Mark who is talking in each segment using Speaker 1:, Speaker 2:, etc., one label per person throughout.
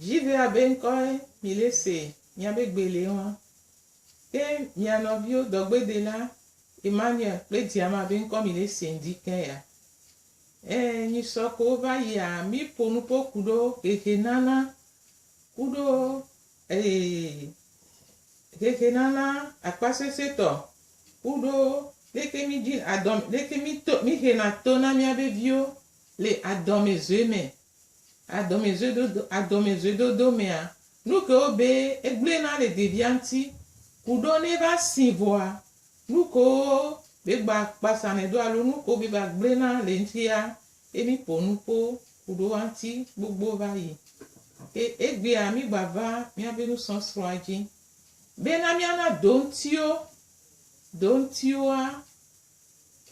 Speaker 1: Dzi ɖe abe ŋkɔe mile se nya be gbe le ema. Ke mia nɔviwo dɔgbedela Emmanuel kple Diama abe ŋkɔ mile se ŋdi ke ya. Ẽ, nyisɔ ko wova yia mi po nupo kuɖo xexe nana kuɖo eye xexe nana akpasese tɔ kuɖo leke mi dzi adɔm leke mi to mi xena to na miabe viwo le adɔme zoe me Adɔmɛzoedodo Adɔmɛzoedodo mɛa, nukewo be egble na le devia ŋti kuɖɔ ne va si vɔa, nukewo be gba kpasa nɛ do alo nukewo be va gble na le ŋtia, ye mi ƒo nuƒo kuɖo wa ŋti gbogbo va yi. Ke egbea mi gba va miabe nusɔsrɔa dzi. Be na miana do ŋtio, do ŋtioa,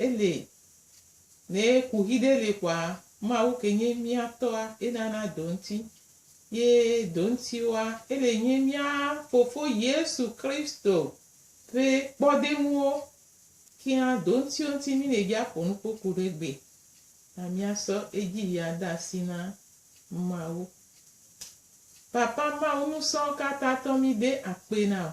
Speaker 1: Eli, Ne kuxi ɖe li kɔa, Mawu ke nye mía Tɔa, enana do ŋti. Ye do ŋtiwoa, ele nye mía Fofo Yesu Kristo ƒe kpɔdeŋuwo. Kea do ŋtiwo ŋti mí nɛ bia ƒo nukpoku ɖe gbe na mía sɔ edzi ya de asi na Mawu. Papa Mawu nusɔ̃ ka tatɔ mí de akpe na o.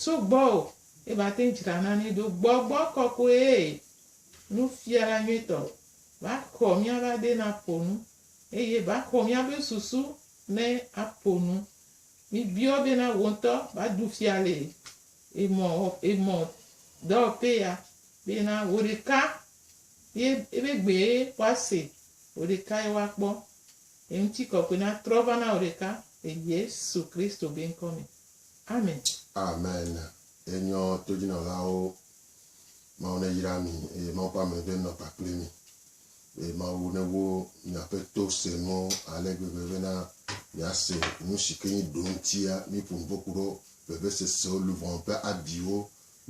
Speaker 1: Tso gbɔwò ye mate ŋu dzra na mí ɖo. Gbɔgbɔ kɔkɔe, Nufiala nyuitɔ, va xɔ míaƒe ade ne aƒo nu, eye va xɔ míaƒe susu ne aƒo nu. Míbiɔ bena wò ŋutɔ va ɖu fia le emɔ emɔ dɔwɔƒe ya bena wò ɖeka ye ebe gbee woase, wò ɖeka ye woakpɔ. Ye ŋutikɔkɔe natrɔ va na wò ɖeka le Yesu Kristo be ŋkɔ me. Amen. Amen.
Speaker 2: Yenyɔ todzinɔlawo. Mawu neyra mi eye Mawu ƒe ame ve nɔ kpakple mi. Eye Mawu newo miaƒe to se nuwo ale gbegbe bena miase nusike nyi ɖoŋtia miƒo nuƒo kuɖo vevesesewo, luvɔn ƒe abiwo,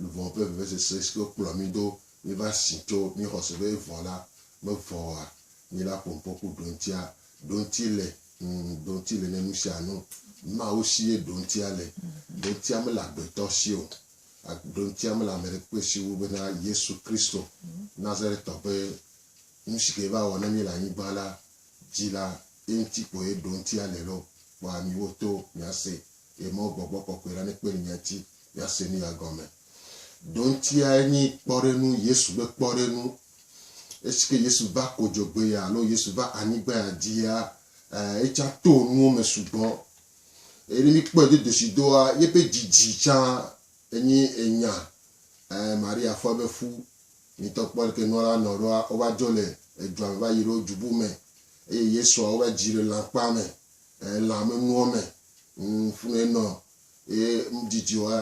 Speaker 2: luvɔn ƒe vevesese sike wokplɔ mi do miva si tso mixɔse be evɔ la mevɔ oa. Mi la ƒo nuƒo ku ɖoŋtia Ɖoŋti le, ŋ, ɖoŋti le ne nu sia nu. Mawu si ye ɖoŋtia le. Ɖoŋtia mele agbetɔ si o. A, ɖoŋtia mele ame ɖekpekpe si wu bena Yesu Kristo, Nazaretɔ ƒe nu si ke va wɔ na mí le anyigba la dzi la, eŋuti ko ye ɖoŋtia le loo. Kpɔ amiwo to miase ye mɔ Gbɔgbɔ Kɔkɔe la nekpe ɖe mia ŋuti miase nuya gɔme. Ɖoŋtiae nyi kpɔɖeŋu, Yesu ƒe kpɔɖeŋu Esike Yesu va kodzogbea alo Yesu va anyigbaya dzia, ɛɛ etsa to nuwo me sugbɔ. Eye ne míkpɔɛ dodoshidɔa, yebe dzidzi tsã enyi enya, ɛɛ Maria fɔ ebe fu. Mitɔ kpɔ leke nua la nɔ ɖoa, wova dzo le edua me va yi ɖo dzubu me. Eye Yesua wova dzi le lãkpa me, ɛɛ lã me nuɔ me. Ŋ, funɛ nɔ. Eye ŋ dzidzioa,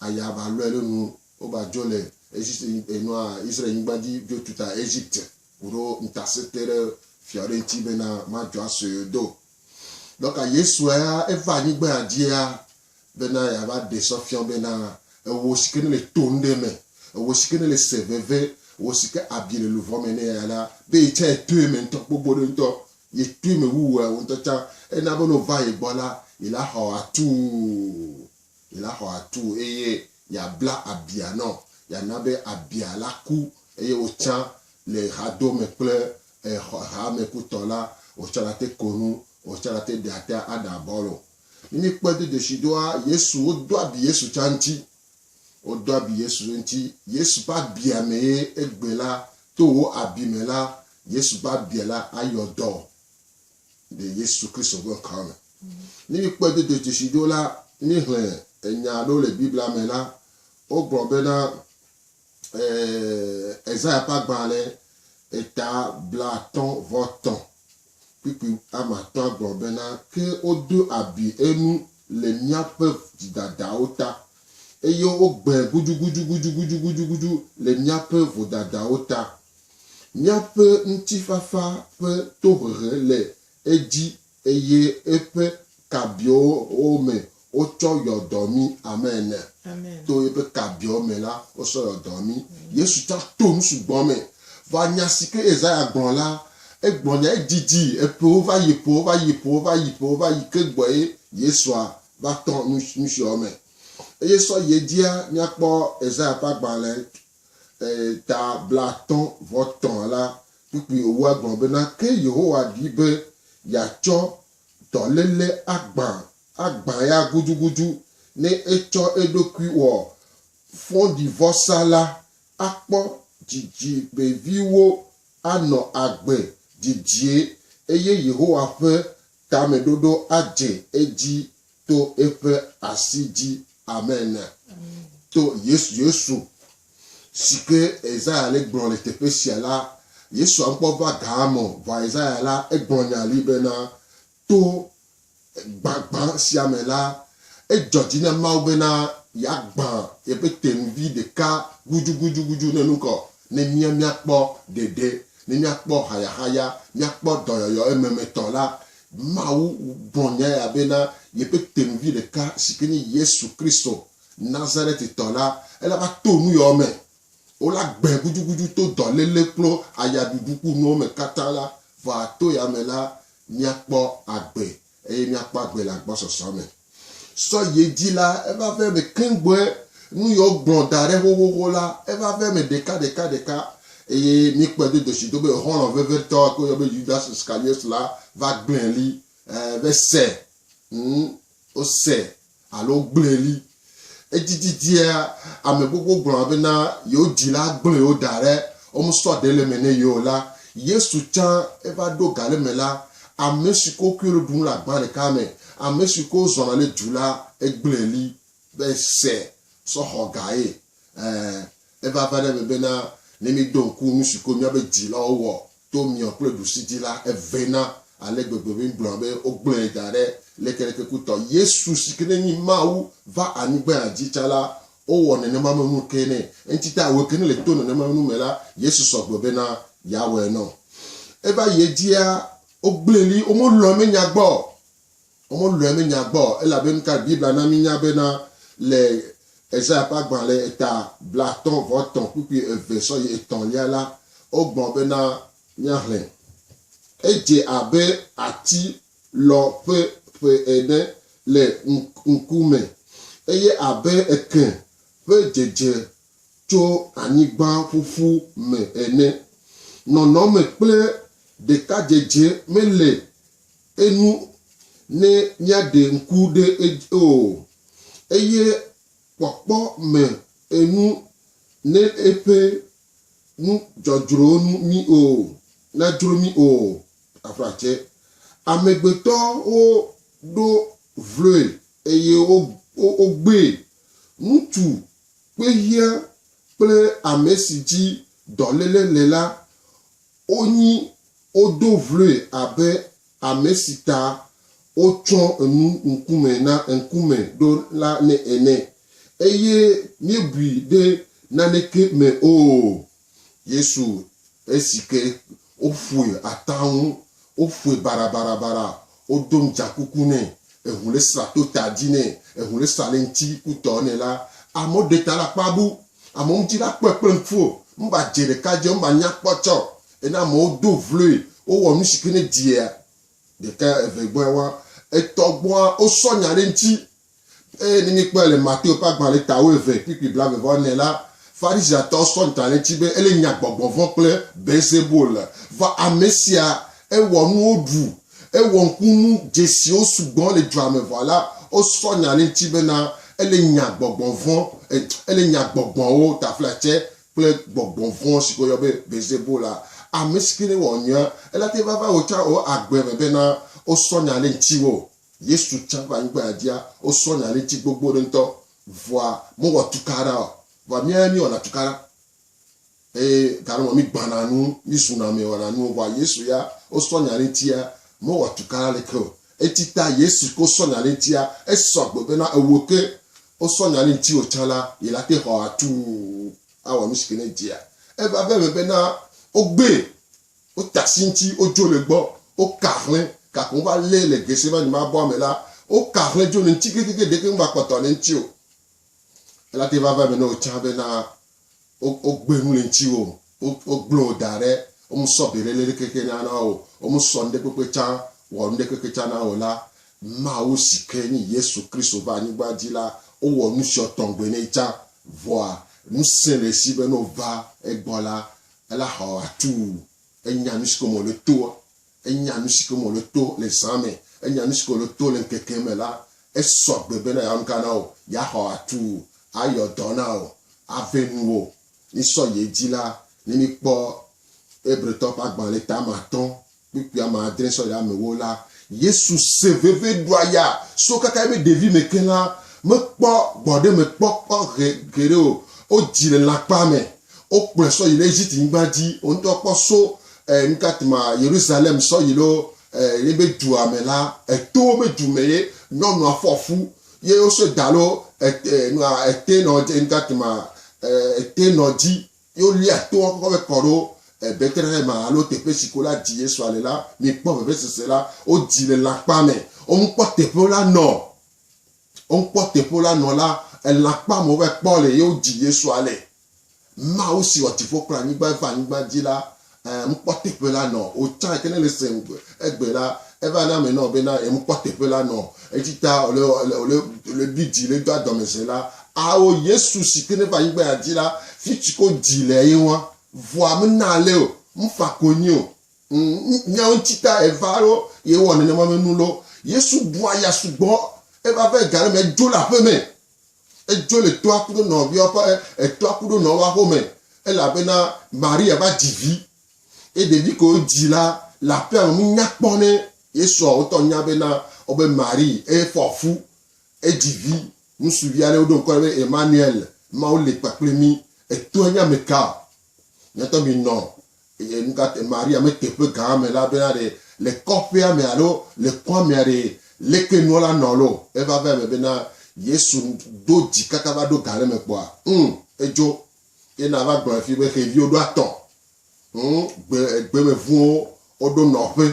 Speaker 2: aya va lɔɛ ɖo nu Woba djo le Egypte e nɔa Israel nyigban dji djo tuta Egypte kuɖo ŋtasete ɖe fia ɖe ŋti bena ma djo asɔe o do. Dɔka Yesua eva anyigbea djia bena yeava ɖe sɔ fiɔ bena ewo sike ne le to ŋɖe me, ewo sike ne le se veve, ewo sike abi le luvɔ me ne eya la, be ye tsa ye toe me ŋtɔ gbogbo ɖe ŋtɔ, ye toe me wu ewo ŋtɔ tsa. Ena bena ova ye gbɔ la, ye la xɔ atuu. la xɔ atu eye yeabla abia nɔ, yeana be abia la ku eye wotsã le hadome kple hamekutɔ la, wotsã nate ko nu, wotsã nate ɖe ate aɖe abɔlo. Ne míekpɔe do dzesi ɖoa, Yesu, wodo abi Yesu tsã ŋuti. Wodo abi Yesu ŋuti. Yesu ƒe abia mee egbe la, to wò abi me la, Yesu ƒe abia la ayɔ dɔ. le Yesu Kristo ƒe ŋkɔa me. Ne míkpɔe do dzesi ɖo la, míexlẽ enya aɖewo le Biblia me la, wogblɔ bena Ezaya ƒe agbalẽ eta blaatɔ̃ vɔ tɔ̃ kpukpui ame atɔ̃a gblɔ bena, Ke wodo abi enu le míaƒe dzidadawo ta, eye wogbãe gudugudugudugudugudu le míaƒe vodadawo ta. Míaƒe ŋutifafa ƒe tohehe le edzi eye eƒe kabiɔwo me wotsɔ yɔ dɔ mí. Amen. To eƒe
Speaker 1: kabiɔwo
Speaker 2: me la, wosɔ yɔ dɔ mí. Yesu tsã to nu sugbɔ me va nya si ke Yesaya gblɔ la. Egblɔ nya edidi eƒewo va yi eƒewo va yi eƒewo va yi eƒewo va yi ke gbɔe Yesua va tɔ nu siawo me. Eye sɔ yi edzia, míakpɔ Yesaya ƒe agbalẽ Eye ta blaatɔ̃ vɔ tɔ̃ la, kpukpui wòwɔe gblɔ bena, Ke Yehowa ɖi be yeatsɔ dɔléle agbã, agbã ya gudugudu, ne etsɔ eɖokui wɔ fɔɖivɔsa la, akpɔ dzidzi veviwo anɔ agbe didie, eye Yehowa ƒe tameɖoɖo adze edzi to eƒe asi dzi. Amen. To Yesu, Yesu si ke Isaya le gblɔ le teƒe sia la, Yesua ŋkɔ va gaa me. Vɔ Isaya la, egblɔ nya li bena, to gbagbã sia me la, edzɔ dzi na Mawu bena yeagbã yeƒe tenuvi ɖeka gudugudugudu ne nu kɔ ne mía míakpɔ ɖeɖe, ne míakpɔ hayahaya, míakpɔ dɔyɔyɔ ememetɔ la, Mawu gblɔ nya ya be na yeƒe tenuvi ɖeka si ke nye Yesu Kristo, Nazaretitɔ la, ele va to nu yawo me. Wola gbãe gudugudu to dɔléle kple ayaɖuɖu kple nuwo me katã la, vɔ ato ya me la, míakpɔ agbe, eye míakpɔ agbe le agbɔsɔsɔ me. Sɔ yi edzi la, eva ƒe me keŋ gbɔe, nu yiwo gblɔ da ɖe xoxoxo la, eva ƒe me ɖeka ɖeka ɖeka, eye míkpɔe do do si do be xɔlɔ̃ vevitɔ yike woyɔ be Yudas Iskariot la va gblẽ li, e, ve se, ŋ, wose, alo wogblẽ li. Edzidzidzia, ame gbogbo gblɔna bena yewo dzila gblẽ wo da ɖe womesɔa ɖe le eme nɛ ye o la, Yesu tsã eva ɖo ga ɖe eme la, ame si ke wokɔe ɖo ɖum le agbã ɖeka me, ame si ke wozɔna le du la, egblẽ li be ese sɔ xɔ ga ye. Ẽ, eva va ɖe eme bena ne míeɖo ŋku nu si ke míaƒe dzilawo wɔ to miɔ kple ɖusi dzi la, evɛ na ale gbegbe be míegblɔna be wogblẽe da ɖe lekelekekutɔ. Yesu si ke ne nyi Mawu va anyigba dzi tsã la, Wowɔ nenema me nu ke nɛ. Eŋti ta wòe ke ne le to nenema nu me la, Yesu sɔ gbe bena yeawɔe nɔ. Eva yi edzia, wogblẽ li, womelɔ̃e menya gbɔ o. Womelɔ̃e menya gbɔ o, elabe nukae Biblia na mínya bena le Esaya ƒe agbalẽ eta blaatɔ̃ vɔ etɔ̃ kpukpui eve sɔ yi etɔ̃lia la, wogbɔ bena míaxlẽ? Edze abe ati lɔ ƒe ƒe ene le ŋku me, eye abe ekẽ ƒe dzedze tso anyigba ƒuƒu me ene. Nɔnɔme kple ɖekadzedze mele enu ne míaɖe ŋku ɖe edzi o, eye kpɔkpɔ me enu ne eƒe nu dzɔdzrɔwo nu mí o, nadzro mí o. aʋatse. Amegbetɔwo ɖo vloe eye wogbee. Ŋutsu kpehiã kple ame si dzi dɔléle le la, wonyi wodo vloe abe ame si ta wotsɔ enu ŋkume na ŋkume ɖo la ene, eye míebui ɖe naneke me o. Yesu esi ke woƒoe ata ŋu, woƒoe barabarabara, wodo ŋdzakuku nɛ, eŋu le sra to ta dzi nɛ, eŋu le sra le ŋuti kutɔ nɛ la, amewo ɖe ta ɖe akpa bu. Amewo ŋuti la kpɔe kple ŋku o. Meva dze ɖeka dzi o, meva nya kpɔ tsɔ o. Ena amewo do vloe, wowɔ nu si ke ne dzia ɖeka, eve gbɔe wa, etɔ gbɔa, wosɔ nya ɖe eŋuti. Eye ne míekpɔe le Mateo ƒe agbalẽ ta wuieve, kplikpli blaeve vɔ ene la, Farisitɔwo sɔ ŋta ɖe edzi be ele nya gbɔgbɔvɔ̃ kple Beelzebul. Vɔ ame sia, ewɔ nuwo ɖu, ewɔ ŋkunu dzesiwo sugbɔ le dua me vɔ la, wosɔ nya ɖe eŋuti bena ele nya gbɔgbɔvɔ̃, ele nya gbɔgbɔwo, taflatse kple gbɔgbɔvɔ̃ si ke woyɔ be Beelzebul la. Ame si ke ne wɔ nyuia, ele ate ŋu va va wò tsã wò agbe me bena wosɔ nya ɖe ŋutiwò. Yesu tsã va anyigba dzia, wosɔ nya ɖe ŋuti gbogbo ɖe ŋutɔ, vɔa mewɔ tukaɖa o. Vɔa míawoe míewɔna tukaɖa eye gale me mígbãna nu, mízuna ame wɔna nuwo. Vɔa Yesu ya, wosɔ nya ɖe ŋutia, mewɔ tukaɖa leke o. Eti ta Yesu ke wosɔ nya ɖe ŋutia, esɔ gbe bena ewò ke wosɔ nya ɖe ŋutiwò tsã la, yi la te xɔ atuu awɔ nusi ke ne edzia eva ve eme bena wogbee Wota sintsi, wodzo le egbɔ, woka ahlẽ, gake wova lée le Getsemane mabɔa me la, woka ahlẽ dzo le eŋuti kekeake, ɖeke meva kpɔtɔ le eŋuti o. Elate va va eme na wò tsã bena wogbe nu le ŋutiwò, wogblẽ wò da ɖe, womesɔ beléle ɖeke ke na na wò o, womesɔ nuɖekpekpe tsã wɔ nuɖeke ke tsã na wò la, Mawu si ke nye Yesu Kristo va anyigba dzi la, wowɔ nusiɔ tɔŋgbe nɛ tsã. Vɔa, ŋusẽ le esi be ne wòva egbɔ la, ela hɔ atuu, enya nu si ke me wòle toa, enya nu si ke me wòle to le zã me, enya nu si ke wòle to le ŋkeke me la, esɔ agbe bena yeawɔ nu ka na wò? Yeahɔ atuu, ayɔ dɔ na wò, aʋẽ nuwò. Mísɔ yi edzi la, ne míkpɔ Hebritɔwo ƒe agbalẽ tame atɔ̃ Kpukpui ame adre sɔ ɖe ame ewo la, Yesu se veve ɖua ya so kaka eƒe ɖevime ke la, mekpɔ gbɔɖemekpɔkpɔ geɖe o. Wodzi le lãkpa me. Wokplɔe sɔ yi ɖe Egypt nyigba dzi. Wo ŋutɔ kpɔ so e nuka tuma Yerusalem sɔ yi ɖo e yebe dua me la, eto wobe du me ye nyɔnua fɔ fu ye wosɔe da ɖo e e nua e te nɔ dze nuka tuma e e te nɔ dzi. ye wolia toa kɔkɔ be kɔ ɖo Bethlehem alo teƒe si ko la dzi Yesua le la, mikpɔ vevesese la, wodzi le lãkpa me. Womekpɔ teƒe la nɔ o. Womekpɔ teƒe la nɔ la, lãkpa me wova kpɔ le ye wodzi Yesua le. Mawu si wɔ dziƒo kple anyigba va anyigba dzi la Ẽ, ŋkpɔ teƒe la nɔ o can ke ne le se ŋgbe egbe la eva na ame nɔ be na em kpɔ teƒe la nɔ edzi ta ole ole ole ole bi dzi le do adɔme ze la ao yesu si ke ne va anyigba ya dzi la fi ci ko dzi le ye ŋua vɔa me na ale o ŋfa ko nyi o ŋ miawo ŋci ta eva alo ye wɔ nenema me nu lo yesu bua ya sugbɔ eva va ega le me edzo le aƒe me Edzo le toa kuɖo nɔviawo ƒe etoa kuɖo nɔwoa home elabena Maria va dzi vi. Eye ɖevi ke wodzi la le aƒea me menya kpɔ ne Yesua wotɔ nya bena wobe Marie eye fɔ fu edzi vi ŋutsuvia ne woɖo ŋkɔ nɛ be Emmanuel, Mawu le kpakple mí. Etoa nye ameka? Miatɔ minɔ e, nukate Maria me teƒe gã me la bena ɖe le kɔƒea me alo le kɔa mea ɖe leke nua la nɔ lo. Eva va eme bena Yesu do dzi kaka va ɖo gã ɖe me kpɔa? Ŋ, edzo. Ye na va gblɔe fi be xeviwo ɖo atɔ. Ŋ, gbe, gbemeŋuwo woɖo nɔƒe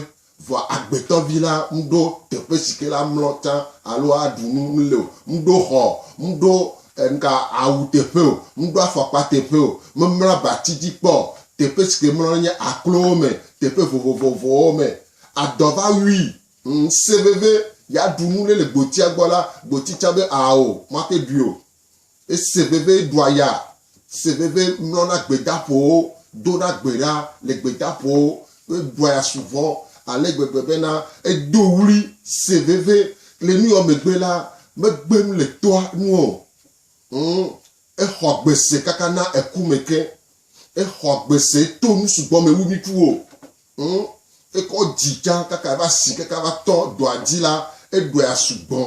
Speaker 2: Vɔ Agbetɔvi la mɖo teƒe si ke la mlɔ tsã alo aɖu nu mle o, mɖo xɔ o, mɖo ŋka awu teƒe o, mɖo afɔkpa teƒe o, memlɔ abati dzi kpɔ o, teƒe si ke mlɔ nye aklowo me, teƒe vovovowo me. Adɔ va wui. Ŋse veve yeaɖu nu ɖe le gbotia gbɔ la, gboti tsã be ao, maxe ɖui o. Ese veve ɖua ya, se veve mlɔna gbedaƒowo, dona gbe ɖa le gbedaƒowo, ƒe ɖua ya su vɔ ale gbegbe bena edo ɣli se veve. Le nuya megbe la, megbe nu le toa nu o. Ŋ! Exɔ gbe se kaka na eku me ke. Exɔ gbe se to nu sugbɔ me wu nukuwo. Ŋ! Ekɔ dzi tsã kaka va si kaka va tɔ ɖua dzi la, eɖua ya su gbɔ.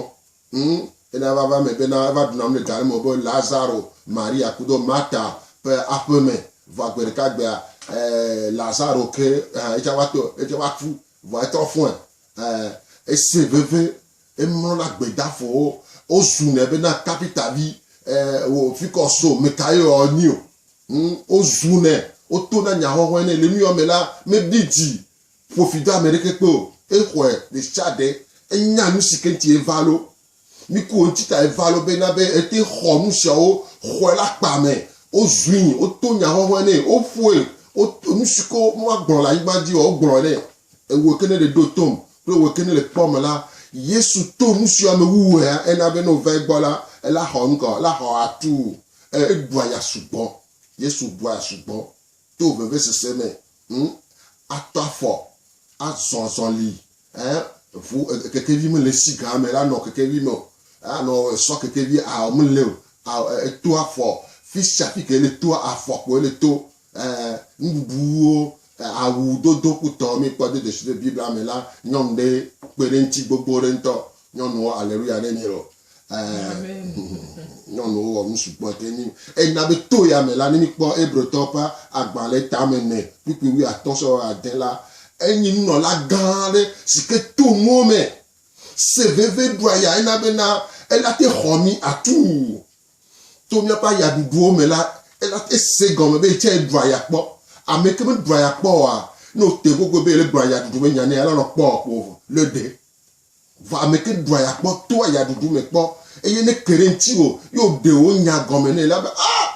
Speaker 2: Ŋ, ena vava me bena eva ɖu nanu le ga me wobe Lazaro, Maria kudo Marta ƒe aƒe me. Vɔa gbe ɖeka gbea, e, Lazaro ke hã yetsɛ va to, yetsɛ va ku. Vɔa etrɔ fɔe. E, esẽ veve. Emlɔ na gbedafɔwo. Wozu nɛ bena Tabita vi, e, wò fikɔ so, mekaye wò ɔ nyi o? Ŋ, wozu nɛ. Woto na nyaxɔxɔe nɛ. Le nuyɔ me la, meɖi dzi Ƒo fi do ame ɖeke kpe o. Exɔe ɖesiaɖe. Enya nu si ke ŋuti eva lo. Mi ku wo ŋuti ta eva lo be na be ete xɔ nu siawo, xɔe le akpa me. Wozui, woto nya hɔhɔe nɛ, woƒoe, wo, nu si ke woagblɔ le anyigba dzi o, wogblɔe nɛ. Ewɔe ke ne ɖe ɖo tom kple ewɔe ke ne le kpɔm la, Yesu to nu siwo ame wuwuea ena be ne wova egbɔ la, ela xɔ nu ka o? Ela xɔ atuu. E, eɖua ya sugbɔ. Yesu bua ya sugbɔ. to vevesese me, ŋu ato afɔ azɔ azɔli, eh, ʋu, eh, kekevi mele esi gã me la nɔ kekevi me o, eh, anɔ esɔ kekevi ao mele o, ao, eh, eto afɔ, fisia fike ele to afɔ kpo ele to, eh, nuɖuɖuwo, eh, awu dodo kpotɔ mi kpɔ do dzesi le Biblia me la, nyɔnu ɖe kpe ɖe ŋuti gbogbo ɖe ŋutɔ, nyɔnuwo, aleluya ne mi loo. Amen. Nyɔnuwo wɔ nu sugbɔ ɖe mí ŋu. Eyi na be to ya me la, ne míkpɔ Hebritɔwo ƒe agbalẽ tame ene kpukpui wuiatɔ̃ sɔwɔ ade la, enye nunɔla gã aɖe si ke to mɔ me se veve ɖu aya hena bena ele ate xɔ mí atu. To míaƒe ayaɖuɖuwo me la, ele ate se gɔme be yetsɛ ɖu aya kpɔ. Ame yi ke meɖu aya kpɔ oa, ne wòte ŋgɔgbe be yele gblɔ ayaɖuɖu me nya nɛ la, elɔ̃ kpɔ o ko wòlɔ̃e ɖe. Vɔ ameke ɖua ya kpɔ toa ya ɖuɖu me kpɔ, eye ne ke ɖe ŋutiwò, ye wòɖe wò nya gɔme nɛ la be, Aa!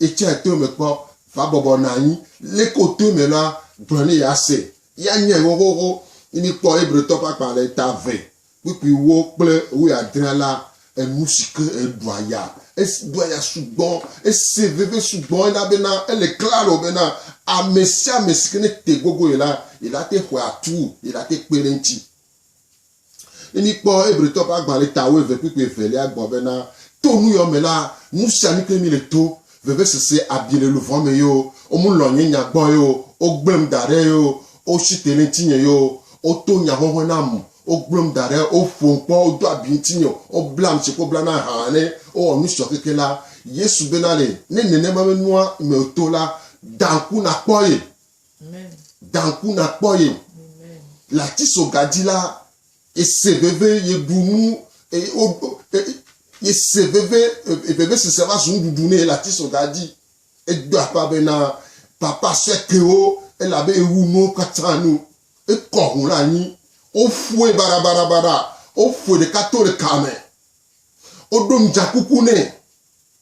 Speaker 2: Etsɔe to eme kpɔ, va bɔbɔ nɔ anyi, leke wòto eme la, gblɔ nɛ yease, ye anyae xoxoxo. Ne míkpɔ Hebritɔ ƒe akpa le ta eve kpuikpuiwo kple wuiadre la, enu si ke eɖua ya, eɖua ya sugbɔ, ese veve sugbɔ elabena ele klalo bena ame sia ame si ke nete gogoe la, yelate xɔe atu, yelate kpe ɖe eŋuti. Ne míkpɔ Hebritɔ ƒe agbalẽ ta wuieve kpukpui evelia gbɔ bena, To nu yɔ me la, nusianu kee míle to, vevesese, abi le luʋɔ me yoo, womelɔ̃ nye nya gbɔ yoo, wogblẽm da ɖe yoo, wotsi te ɖe ŋutinye yoo, woto nyaheohe nam, wogblẽm da ɖe, woƒom kpɔ, wodo abi ŋutinye, woblam tsi kple woblana aha ene, wowɔ nu sɔ keke la, Yesu bena nɛ, Ne nenema menua me o to la, da ŋku nàkpɔ ye. Da ŋku nàkpɔ ye o. Le atisoga dzi la, yese veve, yeɖu nu, yese veve, vevesese va zu nuɖuɖu nɛ le atisoga dzi. Edo aƒa bena, Papa sue kewo, elabe ewu nuwo katã nu. Ekɔ ŋu ɖe anyi. Woƒoe baɖabaɖabaɖa. Woƒoe ɖeka to ɖeka me. Woɖo nudzãkuku nɛ.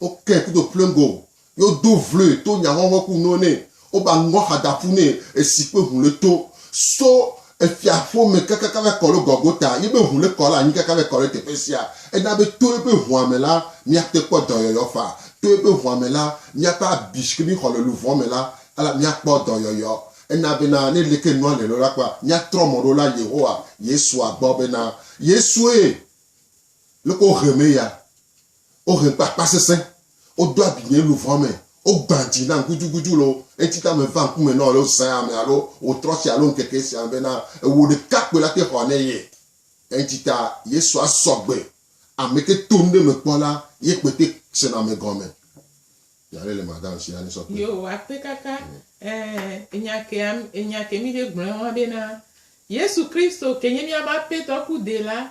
Speaker 2: Wokee kudo pleŋgo, ye wodo vloe to nyahɔhɔ ku nuwo nɛ, woba ŋgɔ xadaƒu nɛ esi kpe ŋu le to so efia ƒo me kakaka va kɔ le Gɔlgota, ye be ŋu le kɔ le anyi kaka va kɔ le teƒe sia. Ena be to ye be ŋua me la, miate kpɔ dɔyɔyɔ faa. To ye be ŋua me la, miaƒe abi si ke mi xɔ le luvɔ me la, ala miakpɔ dɔyɔyɔ. Ena be na ne leke nua le lo la kpɔa, miatrɔ mɔ ɖo la Yehowa, Yesua gbɔ be na Yesue leke wo he me ya. Wohe kpakpa sesẽ, wodo abi nye luʋɔ me, wogbã dzi nam gudugudu le wò ŋuti ta meva ŋkume na wò alo zã ame alo ɣetrɔ sia alo ŋkeke sia me bena ewò ɖeka koe la te xɔ ne ye. Eŋuti ta Yesu asɔ gbe ameke to nuɖe me kpɔ la ye kpe te sena me gɔme. Nya ɖe le madame sia ne sɔ kpe. Yewo akpe kaka ɛ enya ke am enya ke mi ɖe gblɔɛ hɔn bena
Speaker 1: Yesu Kristo ke nye miabe apetɔ ku dela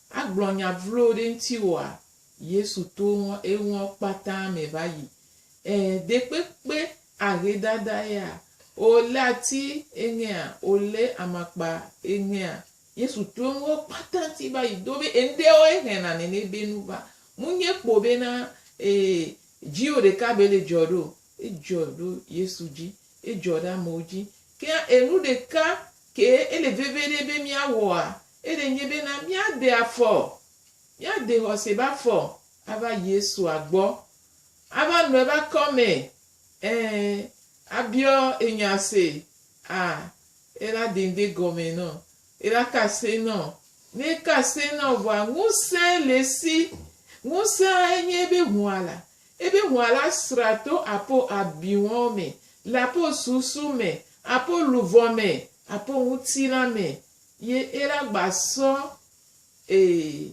Speaker 1: Agblɔ nya vlo ɖe ŋtiwoa? Yesu to eŋua kpata me va yi. Ẽ, ɖekpekpe ahedada ya o, le ati eŋea o, le amakpa eŋea, Yesu to eŋua kpata ŋti va yi. Dobe eŋɖewo ehɛna nene be nu va. Munye kpo be na e dzio ɖeka be le dzɔ ɖo. Edzɔ ɖo Yesu dzi. Edzɔ ɖe amewo dzi. Ke hã enu ɖeka ke ele veve ɖe be mía wɔa, Eɖe nye bena míade afɔ, míade xɔse be afɔ ava Yesua gbɔ, ava nɔ eƒe akɔme, ẽ, abiɔ enya se, a ela de ŋde gɔme nɔ, ela ka se nɔ. Ne eka se nɔ vɔa, ŋusẽ le esi. Ŋusẽa enye ebe hũa la. Ebe hũa la sra to apo abiwɔn me, le apo susu me, apo luvɔ me, apo ŋutilã me, Ye ela gba sɔ e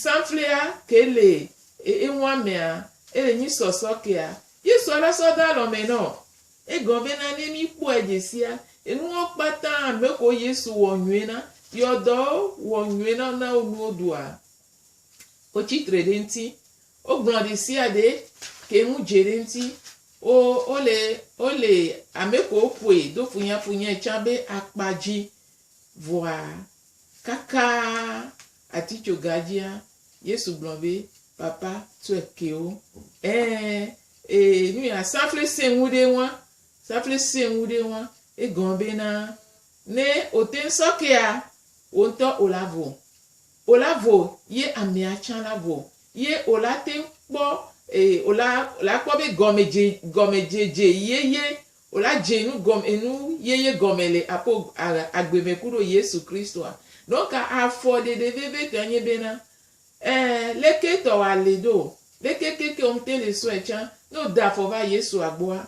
Speaker 1: sanflea ke le e eŋua mea, ele nyi sɔsɔ kea, ye sɔ la sɔ da lɔmɛ nɔ. Egɔ be na ne mi kpɔɛ djesia, enuwo kpata me ko Yesu wɔ nyuie na, yi ɔdɔwo wɔ nyuie na wo na wo nuwo ɖua, wo tsi tre ɖe ŋti Wogblɔ ɖesiaɖe ke ŋu dze ɖe ŋti wo wole wole amekewo ƒoe do funyafunyɛ tsã be akpa dzi vɔa kakaa atitsoga dzia Yesu gblɔ be papa tsɔe kewo ɛɛ ee nuya safli sɛ ŋu ɖe ŋua safli sɛ ŋu ɖe ŋua egɔme bena ne oteŋ sɔ kea woŋtɔ olavo O la vo ye amea tsã la vo ye o la te ŋu kpɔ e o la o la kpɔ be gɔme dze gɔme dze dze yeye o la dze nu gɔme enu yeye gɔme le apo a agbe me ku ɖo Yesu Kristo a. Donc afɔ ɖeɖe veve tɔe nye be na e le ke tɔ wa le ɖo le ke ke ke o ŋte le sɔe tsã ne o da afɔ va Yesu a gbɔ a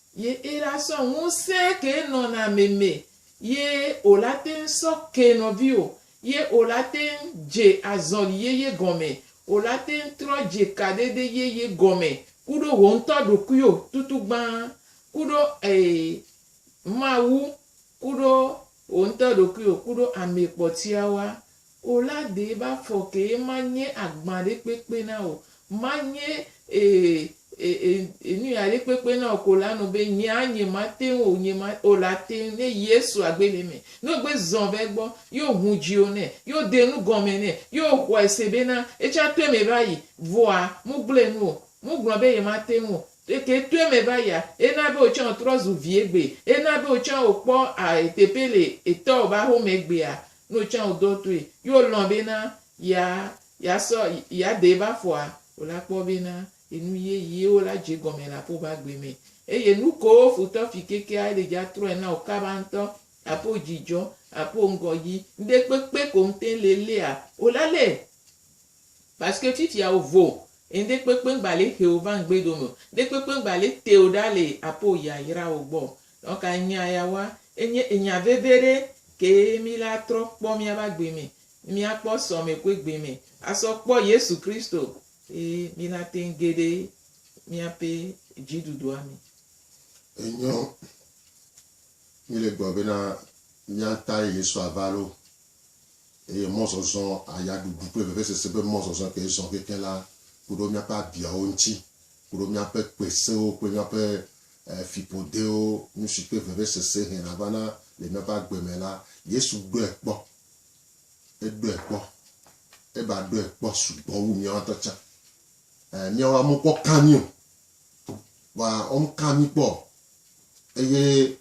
Speaker 1: Ye ela sɔ ŋusẽ ke nɔna me me ye ola teŋ sɔ ke nɔviwo ye ola teŋ dje azɔli yeye gɔme, ola teŋ trɔ dje kaɖeɖe yeye gɔme kuɖo woŋtɔ ɖokuio tutu gbã kuɖo ee Mawu kuɖo woŋtɔ ɖokuio kuɖo amɛ kpɔtiawoa O la dee va fɔ kee manye agbã ɖe kpekpe na wò, manye e, e, e, e nu ya ɖe kpekpe na wò ko la nu be nye a nye ma te ŋu o, nye ma o la te ŋu ne Yesu a gbe le eme. Ne o gbe zɔn va egbɔ, ye o ŋu dzi o nɛ, ye o de nu gɔme nɛ, ye o xɔe se be na etsã to eme va yi, vɔa mu gblɔe nu o, mu gblɔ be ye ma te ŋu o. Eke to eme va yia, e na be wò tsã o trɔ zu vi egbe, e na be wò tsã o kpɔ a, e teƒe le etɔwò be ahome gbea, no tsã wo do toe yi wo lɔn be na ya ya sɔ ya de va fɔa wo la kpɔ be na enu ye yi wo la dze gɔme le aƒo ba gbe me eye nu ko wo futɔ fi kekea ele dza trɔe na wo kaba ŋtɔ aƒo dzi dzɔ aƒo ŋgɔ yi ŋde kpekpe ko ŋte le lea wo la le paske fifia wo vo ŋde kpekpe ŋgba le xeo va ŋgbe dome ŋde kpekpe ŋgba le teo ɖa le aƒo ya yra wo gbɔ Nɔ ka enya ya wa? Enye enya veve ɖe kee mí le atrɔ kpɔ míabe agbe me, ne míakpɔ sɔme ku egbe me asɔ kpɔ Yesu Kristo ye mí la te ŋu ge ɖe míaƒe dziɖuɖua me. Enyo,
Speaker 2: mí le gblɔ bena mía tae Yesu ava loo eye mɔzɔzɔ aya ɖuɖu kple vevesese ƒe mɔzɔzɔ ke zɔ kekeŋ la ku ɖo míaƒe abiawo ŋuti, ku ɖo míaƒe kpe sewo kple míaƒe fiƒodewo, nu si ƒe vevesese hɛna vana le míaƒe agbe me la, Yesu ɖɔe kpɔ. Eɖɔe kpɔ. Eva ɖɔe kpɔ sugbɔ wu míawo ŋutɔ tsã. Ɛ, míawo amekpɔ ka mí o, vɔa womeka mí kpɔ o. Eye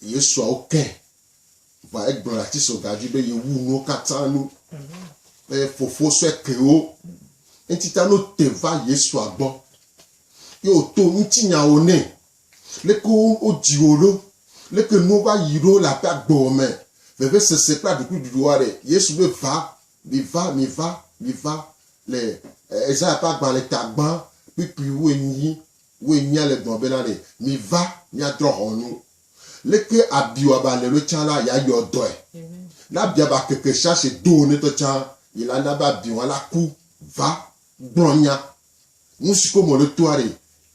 Speaker 2: Yesua wokɛ, vɔa egblɔ le atisoga dzi be yewu nuwo katã nu. Eye Fofo sɔe ke wo. Eŋuti ta ne wote va Yesua gbɔ, Ye wòto ŋutinyawo nɛ. Leke wodzi wò ɖo? Leke nuwo va yi ɖo le abe agbewo me, vevesese kple aɖukliɖuɖu aɖe? Yesu be, Va, miva, miva, miva, le Esaya ƒe agbalẽ ta gbã kpukpui wu enyi, wu enyia le gblɔm bena ɖe, Miva, míadrɔ̃ ʋɔnu. Leke abi wɔaba le ɖo tsã la, yeayɔ dɔe. Ne abia ba keke shashe do wo ŋutɔ tsã, yi la na be abi wɔla ku. Va, gblɔ nya, Nu si ko mɔ ɖe toa ɖe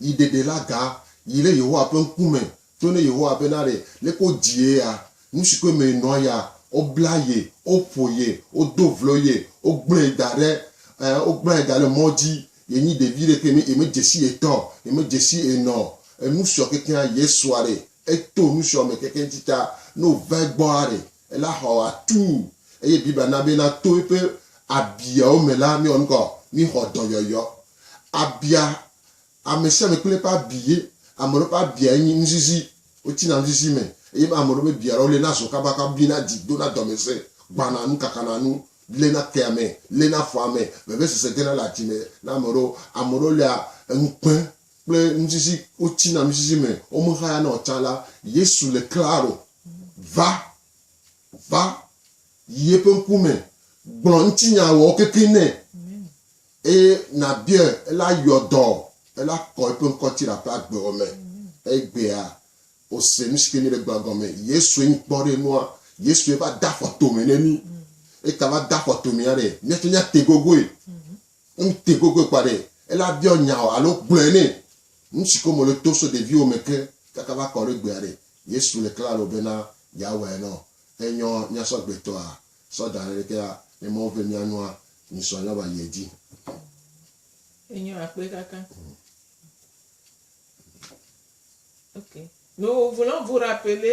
Speaker 2: yi ɖeɖe la ga yi ɖe Yehowa ƒe ŋku me tso ne Yehowa be na ɖe le ko dzi ye ya. Nu si koe me yi nɔa ya, wo bla ye, wo ƒo ye, wo do vlo ye, wo gblɔe yi da ɖe, ɛ, wo gblɔa yi da ɖe mɔ dzi. Ye nyi ɖevi ɖe ke me ye me dzesi ye tɔ, ye me dzesi ye nɔ. Enu siɔ kekeŋa Yesua ɖe, eto nu siɔ me kekeŋ tsitsa ne wo va egbɔa ɖe. Ela xɔ atuu eye Biblia na be na to eƒe abiawo me la, míawɔ nu ka o? Míxɔ dɔyɔyɔ. Abia, ame sia ame kple eƒe abi ye. Ame aɖewo ƒe abiae nye nuzizi. Wotsina nuzizi me eye ame aɖewo ƒe bia la, wolena zɔ kabakaba, biana dzi, dona dɔmesẽ, gbãna nu, kakana nu, léna kea me, léna afɔa me, vevesese gena le adzi me na ame aɖewo. Ame aɖewo lia ŋukpe kple nuzizi, wotsina nuzizi me, womexayana o tsã la, Yesu le klalo Va, va, yi eƒe ŋkume, gblɔ ŋutinyawɔwo kekeŋ nɛ, eye nàbiae, ela yɔ dɔ, ela kɔ eƒe ŋkɔti le aƒe agbewo me. Egbea, wòse nu si ke míele gblɔa gɔme. Yesue nyi kpɔ ɖe nua. Yesue va de afɔ tome ne mí. Eta va de afɔ tomea ɖe, míatsɔ míate gogoe. Ŋutɛ gogoe kpɔ aɖe ele abiɔ nya o alo gblɔe nɛ. Nusi ko mele to so ɖeviwo me ke kaka va kɔ ɖe gbe aɖe Yesu le klalo bena yeawɔe nɔ enyɔ nyasɔgbeetɔa sɔ da ɖe ɖekea ne Mawu ve mia nua nyi sɔ nyɔ va yi edzi. Enyɔ
Speaker 1: akpe kaka. Ok. No vo lɔ vo ɖa pele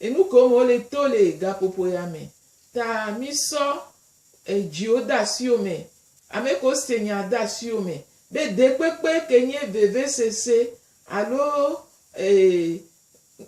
Speaker 1: Enukom wole to le gaƒoƒo ya me. Ta misɔ edziwo de asiwo me, ameko se nya de asiwo me, be dekpekpe ke nye vevesese alo e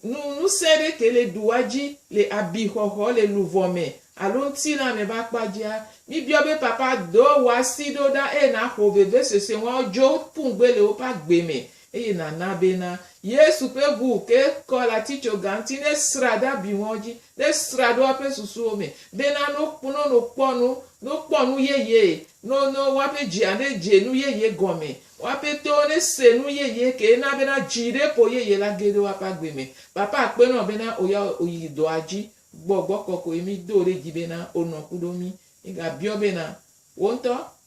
Speaker 1: nu nusẽ ɖe ke le ɖua dzi le abixɔxɔ, le luvɔ me alo ŋtilã me be akpa dzia. Mibiɔ be, Papa, do wò asi ɖo ɖa eye naxo vevesese ŋua wodzo ƒu ŋugbe le woƒe agbe me Eye nàna bena Yesu ƒe ŋu ke kɔ le atitsoga ŋuti, ne srã ɖe abi ŋɔ dzi, ne srã ɖo eƒe susuwo me, bena no, no no kpɔ nu, no kpɔ nu yeye, no, no woaƒe dzia ne dze nu yeye gɔme, woaƒe towo ne se nu yeye ke na bena dzi ɖe ƒo yeye la ge ɖe woaƒe agbe me. Papa akpe nɔ bena oya oyi dɔa dzi. Gbɔgbɔ kɔkɔe mi do ɖe dzi bena onɔ kuɖo mi. Mi ga biɔ bena, Wo ŋutɔ,